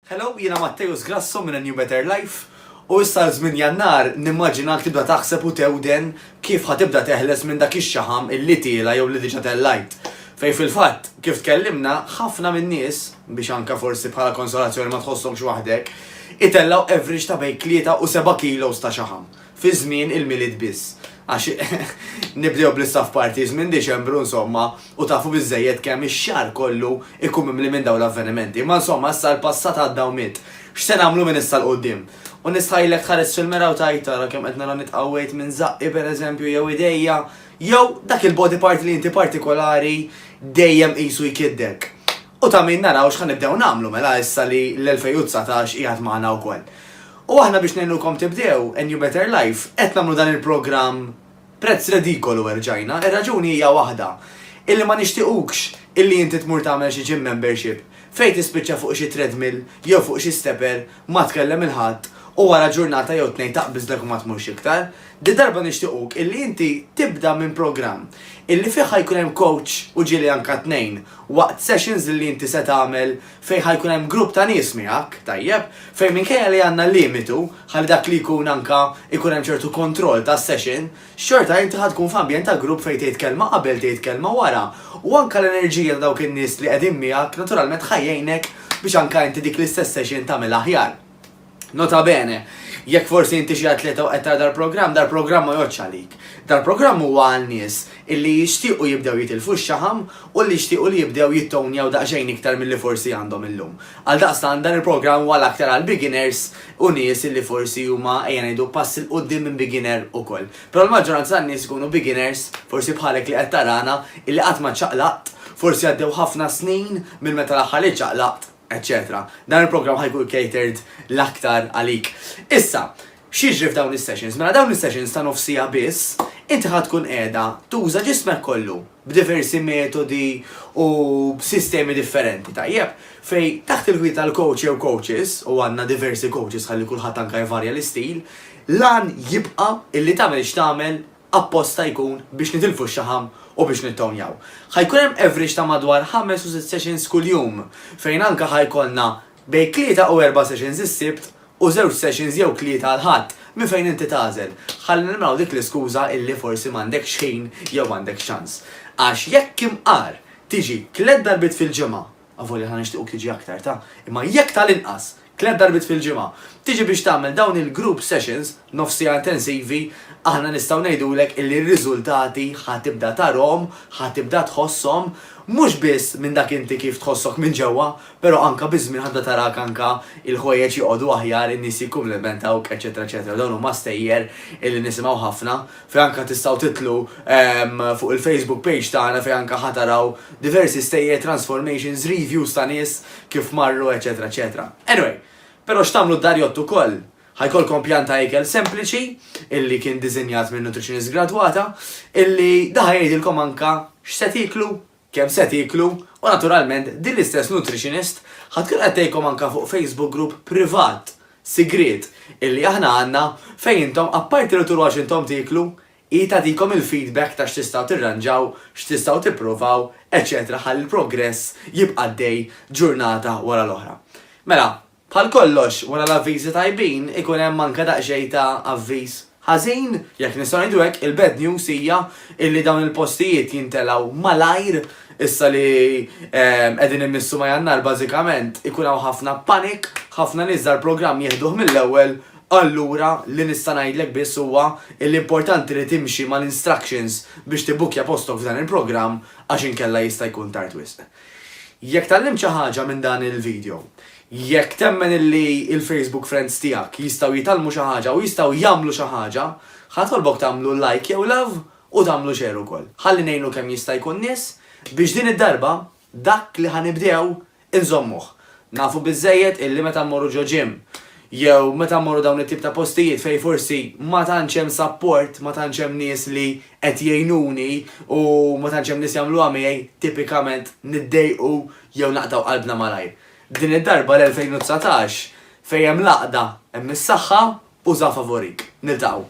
Hello, jiena Matteus Grasso minn A New Better Life u issa għal żmien Jannar nimmaġinak tibda taħseb u tewden kif ħa tibda teħles minn dak ix-xaħam illi tiela' jew li diġa tellajt. Fejn fil-fatt, kif tkellimna, ħafna min-nies, biex anka forsi bħala konsolazzjoni ma tħossokx waħdek, itellgħu average ta' bejn tlieta u seba' kilos ta' xaħam. fi żmien il-Milied biss, għax nibdew bl-istaff parties minn Diċembru insomma u tafu biżżejjed kemm ix-xahar kollu jkun mimli minn dawn l-avvenimenti. Imma insomma issa l-passat għadda u miet. X'se nagħmlu minn issa 'l quddiem? U nistħajjlek tħares fil-mera u tgħid ara kemm qed nara nitqawwejt minn żaqqi pereżempju jew idejja jew dak il-body part li inti partikolari dejjem qisu jkiddek. U ta' min naraw x'ħa nibdew nagħmlu mela issa li l-2019 qiegħed magħna wkoll. U aħna biex ngħinukom tibdew a new better life qed nagħmlu dan il-programm prezz redikolu erġajna, ir-raġuni hija waħda, illi ma nixtiequkx illi inti tmur tagħmel xi gym membership fejn tispiċċa fuq xi treadmill jew fuq xi stepper Ma tkellem il-Ħadd u wara ġurnata jew tnejn taqbiżlek u ma tmurx iktar. Din darba nixtiequk illi inti tibda minn programm illi fih ħa jkun hemm coach u ġieli anka tnejn waqt sessions illi inti se tagħmel fejn ħa jkun hemm grupp ta' nies miegħek, tajjeb, fejn minkejja li għandna limitu ħalli dak li jkun anka jkun hemm ċertu kontroll tas-session, xorta inti ħa tkun f'ambjent ta' grupp fejn tgħid kelma qabel tgħid kelma wara u anke l-enerġija ta' dawk in-nies li qegħdin miegħek naturalment ħa jgħinek biex anke inti dik l-istess session tagħmilha aħjar. Nota bene, jekk forsi inti xi atleta u qed tara dal-programm, dal-programm ma jgħoddx għalik. Dal-programm huwa għal nies illi jixtiequ jibdew jitilfu x-xaħam u li jixtiequ li jibdew jittownjaw daqsxejn iktar milli forsi għandhom illum. Għaldaqstant dan il-programm huwa l-aktar għall-beginners u nies illi forsi huma, ejja ngħidu, pass 'il quddiem minn beginner ukoll. Però l-maġġoranza tan-nies ikunu beginners, forsi bħalek li qed tarana, illi qatt ma ċċaqlaqt, forsi għaddew ħafna snin minn meta l-aħħar li ċċaqlaqt, eċċetera Dan il-programm ħa jkun catered l-aktar għalik. Issa, x'jiġri f'dawn is-sessions? Mela dawn is-sessions ta' nofs siegħa biss, inti ħa tkun qiegħda tuża ġismek kollu, b'diversi metodi u b'sistemi differenti, tajjeb, fejn taħt il-gwida tal-coach jew coaches, u għandna diversi coaches ħalli kulħadd anke jvarja l-istil, l-għan jibqa' illi tagħmel x'tagħmel apposta jkun biex nitilfu x-xaħam u biex nittownjaw. Ħa jkun hemm average ta' madwar ħames u sitt sessions kuljum fejn anke ħa jkollna Bejn tlieta u erba' sessions is-Sibt u żewġ sessions jew tlieta l-Ħadd, minn fejn inti tagħżel. Ħalli neliminaw dik l-iskuża illi forsi m'għandekx ħin jew m'għandekx ċans. Għax jekk imqar tiġi tliet darbiet fil-ġimgħa, avolja aħna nixtiequk tiġi aktar ta', imma jekk tal-inqas tliet darbiet fil-ġimgħa tiġi biex tagħmel dawn il-group sessions, nofs siegħa intensivi, aħna nistgħu ngħidulek illi r-riżultati ħa tibda tarhom, ħa tibda tħosshom, mhux biss minn dak inti kif tħossok minn ġewwa, Però anke biż-żmien ħadda tarak anke il-ħwejjeġ joqogħdu aħjar, in-nies jikkumplementawk, eċċetera eċċetera. Dawn huma stejjer illi nisimgħu ħafna fejn anke tistgħu tidħlu fuq il-Facebook page tagħna fejn anke ħa taraw diversi stejjer, transformations, reviews ta' nies kif marru, eċċetera eċċetera. Anyway, però x'tagħmlu d-darjott ukoll? Ħa jkollkom pjan ta' ikel sempliċi illi kien diżinjat minn nutritionist gradwata illi da ħa jgħidilkom anke x'se tieklu kemm se tieklu u naturalment din l-istess nutritionist ħa tkun qed tgħidkom anke fuq Facebook group privat, sigriet, illi aħna għandna fejn intom apparti li turuha x'intom tieklu, hi tagħtikom il-feedback ta' x'tistgħu tirranġaw, x'tistgħu tipprovaw, eċċetera ħalli l-progress jibqa' għaddej ġurnata wara l-oħra. Mela, Bħal kollox, wara l-avviżi tajbin ikun hemm anke daqsxejn ta' avviż ħażin, jekk nistgħu ngħidu hekk, il-bad news hija illi dawn il-postijiet jintelgħu malajr, issa li qegħdin immissu ma' Jannar bażikament ikun hawn ħafna panic, ħafna nies dal-programm jieħduh mill-ewwel, allura li nista' ngħidlek biss huwa illi importanti li timxi mal-instructions biex tibbukkja postok f'dan il-programm għax inkella jista' jkun tard wisq. Jekk tgħallimt xi ħaġa minn dan il-video, jekk temmen illi il-Facebook friends tiegħek jistgħu jitgħallmu xi ħaġa u jistgħu jagħmlu xi ħaġa, ħa nitolbok tagħmlu like jew love u tagħmlu share ukoll. Ħalli ngħinu kemm jista' jkun nies biex din id-darba dak li ħa nibdew inżommuh. Nafu biżżejjed illi meta mmorru ġo gym jew meta mmorru dawn it-tip ta' postijiet fejn forsi ma tantx hemm sapport, ma tantx hemm nies li qed jgħinuni u ma tantx hemm nies jagħmluha miegħi, tipikament niddejqu jew naqtgħu qalbna malajr. Din id-darba l-2019 fejn hemm l-għaqda hemm is-saħħa u żgħafa favorik. Niltaqgħu.